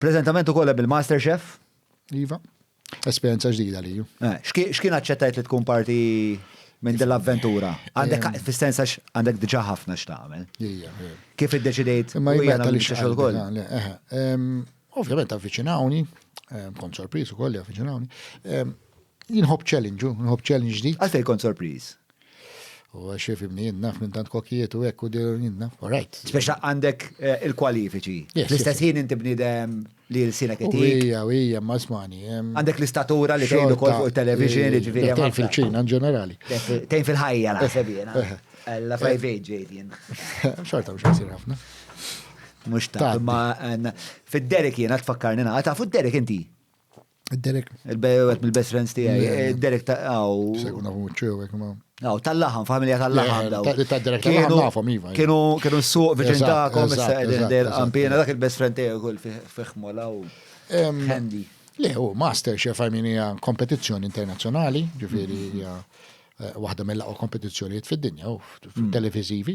Preżentament ukoll hemm il-Master Chef. Iva. Esperjenza ġdida li ju. Eh, x'kien aċċettajt li tkun parti minn din l-avventura? Għandek eh. fis-sens għax għandek diġà ħafna x'tagħmel. Kif iddeċidejt ma hija nagħmel xogħol ukoll? Ovvjament avviċinawni, kont sorpriż ukoll li avviċinawni. Jinħobb challenge, jinħobb challenge ġdid. Għalfejn kont sorpriż? U xie fimni jien naf minn tant kokijiet u ekku dir jien naf. All right. Speċa għandek eh, il-kwalifiċi. L-istess ħin inti bnidem li l-sina kitik. Ija, ija, ma smani. Għandek l-istatura li tgħidu kol fuq il-television, ġifiri. Tejn fil-ċina, ġenerali. Tejn fil-ħajja, naħseb jena. Eh, eh. La fajvej ġejtjen. Xorta mux għasir ħafna. Mux ta' ma fid-derek jena tfakkarni naqa, ta' fud-derek inti. Derek. Il-bejwet mill-best friends tijaj. Eh, Derek ta' għaw. Sejkun għafu muċċewek ma. Għaw, tal-laħam, familja tal-laħam. Ta' Derek tal-laħam għafom, iva. Kienu, kienu s-suq viċin ta'kom, issa għedin del għampina, dak il-best friend tijaj kull fiħmu law. Handy. Le, u master chef għaminija kompetizjoni internazjonali, ġifiri, eh, waħda mill-laqo kompetizjoniet fid-dinja, u mm. televizivi.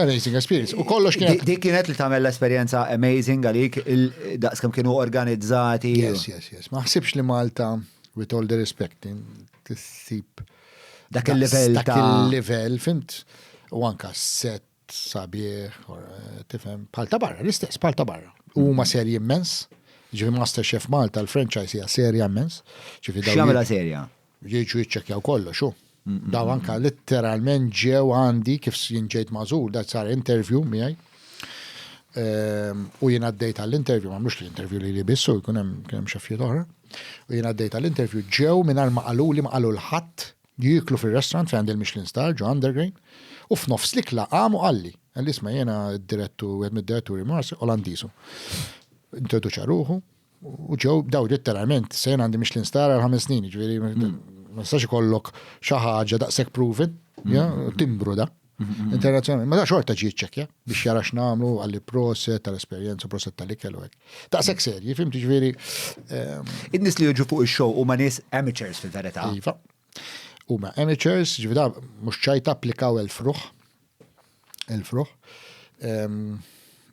Amazing experience. U kollox kienet. Dik kienet li tagħmel l-esperjenza amazing għalik daqs kemm kienu organizzati. Yes, yes, yes. Ma ħsibx li Malta, with all the respect, tissib. Dak il-level ta' il-level, fimt, u anka set sabiħ, eh, tifhem, bħal ta' barra, l-istess, bħal ta' barra. Huma serji immens, ġifi Master Chef Malta, l-franchise hija serja immens. X'jagħmilha serja? Jiġu jiċċekkjaw kollox, hu. Dawn anke litteralment ġew għandi kif jien ġejt magħżul, dat sar interview miegħi. Ehm, u jien għaddejt għall-interview, ma mhux l-interview li li bissu, jkun hemm kien hemm xaffijiet oħra. U jien għaddejt għall-interview ġew mingħajr ma qaluli ma qalu l-ħadd jieklu fir-restaurant fejn għandi l-Michelin Star ġo Undergrain u f'nofs l-ikla qam u qalli. Għalli isma' jiena d-direttu, għed mid-diretturi Mars Olandisu. Introduċa ruħu, U ġew daw letteralment, sejn għandi mhix l-instar għal ħames snin, ġifieri ma nistax ikollok xi ħaġa daqshekk proven, timbru da. Mhm. Internazzjonali, ma da xorta ġi ċekja biex jara x'namlu għalli proset tal-esperjenza, proset tal-ikel u hekk. Daqshekk serji, fim ġifieri. Ehm, In-nies li jiġu fuq ix-show huma nies amateurs fil-verità. Iva. Huma amateurs, ġifieri mhux ċajta applikaw il-fruħ. Il-fruħ.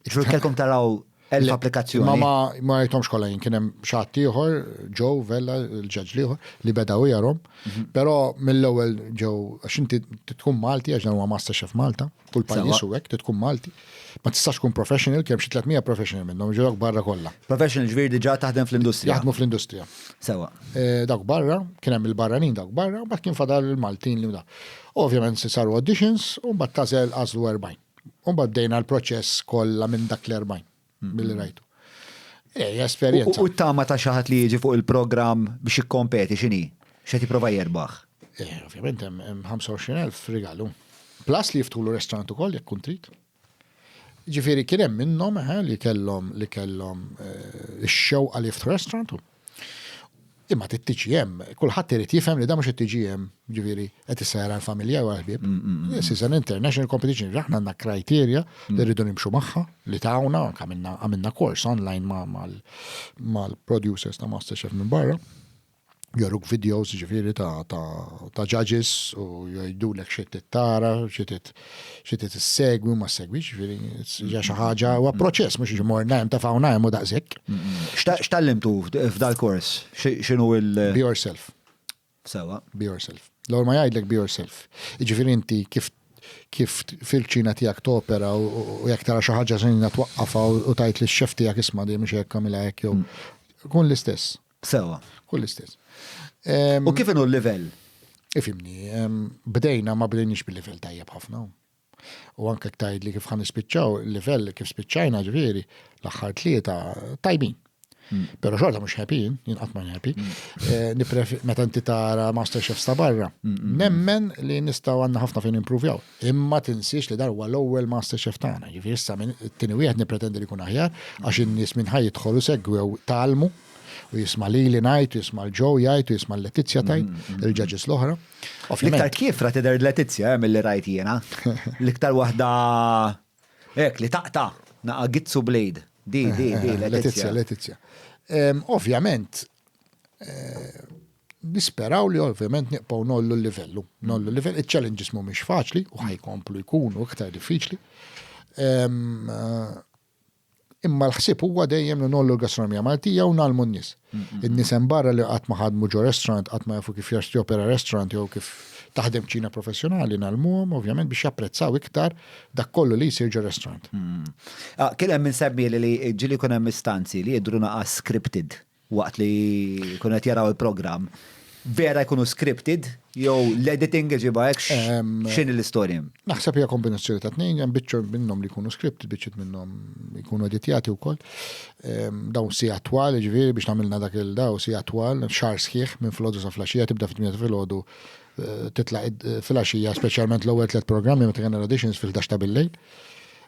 Ġur kelkom taraw l-applikazzjoni. Ma ma ma jtomx kolla jien kienem xaħat tiħor, ġo, vella, l-ġaġ liħor, li beda u jarom. Mhm. Pero mill-ewel ġo, għaxin tkun Malti, għax dan huwa Masterchef Malta, kull pajis u għek, tkun Malti. Ma tistax tkun professional, kem xie 300 professional minnom, ġo barra kolla. Professional ġviri diġa taħdem fl-industrija. Jaħdmu fl-industrija. Sewa. Eh, dak barra, kienem il-barranin dak barra, bat kien fadal il-Maltin li u da. Ovvjament se saru auditions u mbagħad tagħżel għażlu 40. U mbagħad bdejna l-proċess kollha minn dak l-40 milli rajtu. Ej, esperjenza. U t-tama ta' xi ħadd li jiġi fuq il-programm biex jikkompeti x'inhi? X'qed jipprova jerbaħ? Eh, ovvjament hemm 25,000 rigalu. Plus li jiftħulu restaurant ukoll jekk kun trid. Ġifieri kien hemm minnhom eħe li kellhom li kellhom eh, ix-xewqa li jiftħu restaurant. Imma t-TGM, kulħadd irid jifhem li da mhux it-TGM, ġifieri qed issejra l-familja u l-ħbieb. Mm, mm, mm. This is an international competition, aħna għandna kriterja li rridu nimxu magħha, li tawna, għamilna kors online mal-producers ta' Masterchef minn barra. joruk videos ġifiri ta' ta' ta' judges u jgħidulek xi tittara, xi tit segwi ma segwi ġifiri hija xi ħaġa huwa proċess mhux imur ngħim ta' hawn ngħim u daqshekk. X'tallimtu f'dal-kors? X'inhu il- Be yourself. Sewa. Be yourself. L-ewwel ma jgħidlek be yourself. Jiġifieri inti kif kif fil-ċina tiegħek topera u jekk tara xi ħaġa żejna twaqqafha u tgħid lix-xef tiegħek isma' dejjem mhux hekk għamilha hekk jew. Kun l-istess. Sewa. Kull l-istess. U kif inhu l-livell? Ifimni, bdejna ma bdejniex bil-livell tajjeb ħafna. U anke ktajd li kif ħan nispiċċaw, il-livell kif spiċċajna ġifieri l-aħħar tlieta tajbin. Mm. Pero xorta mux happy, jien qatt ma happy. Mm. Eh, Nipref meta inti tara Masterchef sta barra. Mm, Nemmen li nistaw għandna ħafna fejn improvjaw. Imma tinsiex li dan huwa l-ewwel MasterChef tagħna, ġifieri issa minn it-tieni wieħed nippretendi li jkun aħjar għax in-nies minn ħa jidħol u segwew tgħallmu u jisma' lili ngħid u jisma' l Joe jgħid u jisma' l Letizja tgħid, il-judges l-oħra. L-iktar kiefra tidher Letizja eh, milli rajt jiena. L-iktar waħda hekk li taqta' naqa' gizzu blade. Di, di, di, Letizja. Letizja. Ovvjament, eh, Nisperaw li ovvjament nibqgħu ngħollu l-livellu, ngħollu l-livell, iċ-challenges mhumiex faċli u ħajkomplu jkunu iktar diffiċli. Imma l-ħsieb huwa dejjem li nollu l-gastronomija Maltija u nalmu n-nies. In-nies hemm barra li qatt ma ħadmu ġo restaurant, qatt ma jafu kif jaxti opera restaurant jew kif taħdem ċina professjonali nalmuhom ovvjament biex japprezzaw iktar dak kollu li jsir ġo restaurant. Ah, kien hemm insemmi li ġili kun hemm istanzi li jidru naqas scripted. waqt li jkunu qed jaraw il-programm, vera jkunu scripted jew l-editing iġibha hekk x'in l-istorja? Naħseb hija kombinazzjoni ta' tnejn, hemm biċċa minnhom li jkunu scripted, biċċiet minnhom jkunu editjati wkoll. Dawn si attwal, ġifieri biex nagħmilna dak il-daw si attwal, xar sħiħ minn filgħodu sa flaxija tibda fit-tmien filgħodu eh, titla' filgħaxija speċjalment l-ewwel tliet programmi meta kellna auditions fil-11 ta' bil-lejl.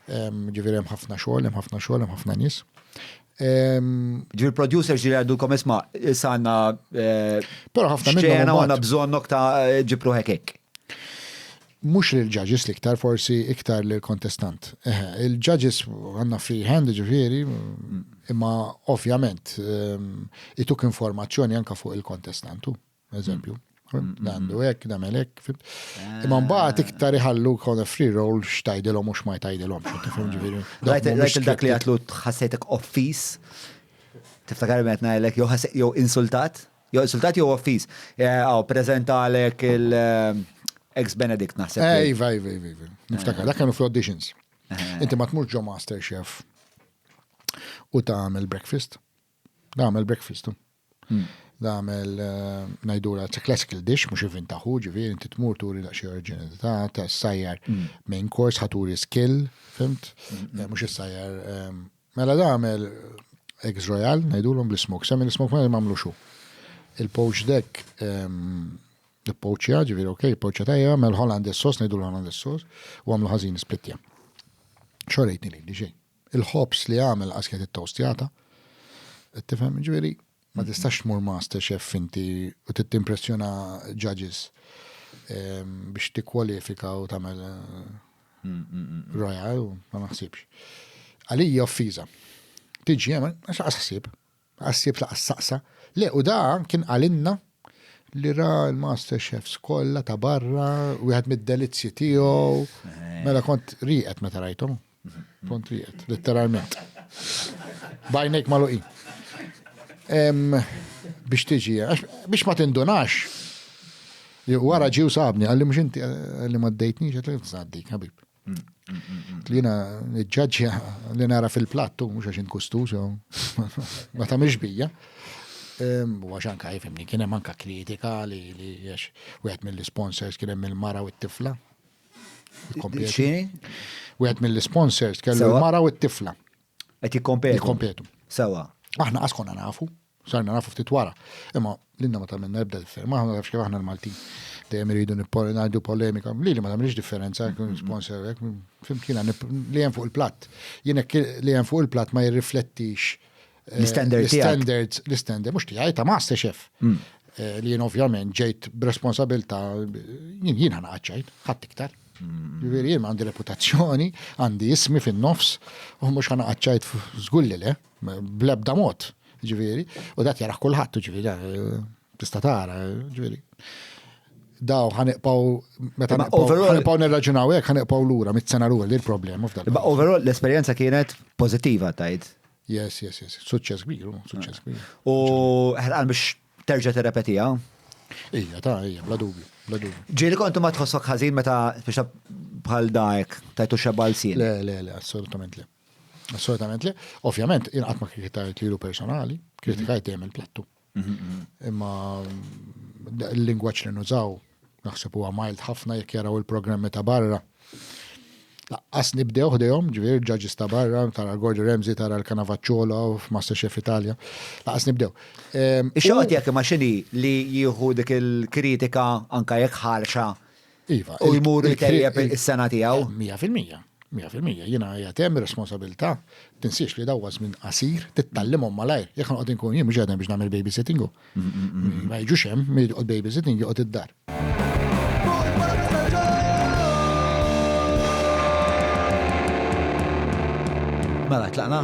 Ġifieri hemm ħafna xogħol, hemm ħafna xogħol, hemm ħafna nies. Ġi l-producers ġi għaddulkom isma, issa għanna. Eh, Pero ħafna minna. Xena għanna bżonnok ta' eh, ġipru hekek. Mux li l-ġaġis li ktar forsi iktar li l-kontestant. Eh, Il-ġaġis għanna free hand ġifiri, imma ovvjament ehm, ituk informazzjoni anka fuq il-kontestantu. Eżempju, għandu hekk, nagħmel hekk. Ah. Imma mbagħad iktar iħallu kona free roll x'tajdilhom u x'ma jtajdilhom. Rajt dak li għatlu tħassejtek offis, tiftakar qed ngħidlek jew insultat, jew insultat jew offis. Eh, aw preżentalek il- eh, ex Benedict naħseb. Eh, iva, iva, iva, iva. Niftakar, dak kienu fl-auditions. Inti ma tmux ġo Master Chef u ta' għamil breakfast. Nagħmel breakfast. Hmm. Nagħmel eh, ngħidura it's a classical dish mhux ivvintaħu, ġifieri inti tmur turi daqsxejn oriġinalità ta' sajjar hmm. main course ħaturi skill, fimt? Hmm. Eh, mhux is-sajjar. Eh, mela nagħmel eggs royal ngħidulhom bl-smoke, semmi l-smoke ma jagħmlu xu. Il-poach deck il-poċja, ġivir, ok, il-poċja tajja, mel Hollandes sos, nejdu l-Hollandes sos, u għamlu ħazin splitja. Xorejtni li, diġej. il-ħobż li għamel qas kienet it-towstjata. Qed tifhem, ġifieri ma mhm. tistax tmur master chef inti u tittimpressjona judges ehm, biex tikkwalifika u tagħmel mm, mm, mm, royal ma naħsibx. Għalija offiża. Tiġi hemm għax ħsieb. Għas-sibt laqas staqsa. Le, u da kien qalilna li ra l-master chefs kollha ta' barra, wieħed mid-delizzji tiegħu. Mela kont rieqed meta rajthom. Kont rieqed, letteralment. Bajnejk maluqin. Biex tiġi, biex ma tindunax. Wara ġew sabni, għalli mhux inti għalli ma ddejtni, ġet l-għaddik, ħabib. Li jina ġġaġġja li nara fil-plattu, mux għax inkustu, so ma ta' bija. U għax anka jifimni, kienem anka kritika li għax u għet mill-sponsors kienem mill-mara u t-tifla. U għet mill-sponsors kellu l-mara u t-tifla. Għet jikompetu. Jikompetu. Sawa. Aħna għaskonna nafu. Sarna nafu ftit wara, imma l-inna ma tamenna ebda differenza, ma ħamna kif aħna l-Maltin. Dejjem iridu ngħidu polemika, li li ma tagħmilx differenza, mm-hmm. sponsor, fimkina li hemm fuq il-platt. Jien li hemm fuq il-platt ma jirriflettix eh, l-standards, l-standard, mhux tiegħi ta' master chef. Mm. Eh, li jien ovvjament ġejt b'responsabilta jien jien ħana għadċajt, ħadd iktar. Mm. Jien għandi reputazzjoni, għandi ismi fin-nofs, u mhux ħana għadċajt żgulli le. Eh. Bl-ebda mod, ġifieri, u dak jaraħ kulħadd, ġifieri, tista' tara, ġifieri. Daw ħaniqpaw meta ħaniqpaw nirraġunaw hekk ħaniqpaw lura mit-sena lura li l-problema f'dak. Imma overall l-esperjenza kienet pożittiva tajt. Yes, yes, yes. Suċċess kbir, oh, suċċess kbir. U ħerqan biex terġa' terrepetija. Ija, ta' ija, bla dubju, bla dubju. Ġieli kontu ma tħossok ħażin meta biex bħal dajk tajtu xebal sin. Le, le, le, assolutament le. Assolutament le. Ovvjament, inqat ma kritikajt lilu personali, kritikajt dejjem il-plattu. Imma l-lingwaġġ li nużaw naħseb huwa mild ħafna jekk jaraw il-programmi ta' barra. Laqqas nibdew ħdejhom, ġifier ġaġis ta' barra, tara l-Gordi Remzi, tara l-Kanavacciola f'Masterchef Italja. Laqqas nibdew. Ehm, Ix-xoqgħod jekk ma xini li jieħu dik il-kritika anka jekk ħarxa Iva. U jmur itejjeb is-sena tiegħu. 100%. 100%. Jiena qiegħed hemm ir-responsabilità tinsiex li dawwa żmien qasir tittallimhom malajr. Jekk noqgħod inkun jien mhux qiegħed biex nagħmel babysitting hu. Ma jiġux hemm, min jqgħod babysitting joqgħod id-dar. Mela tlaqna.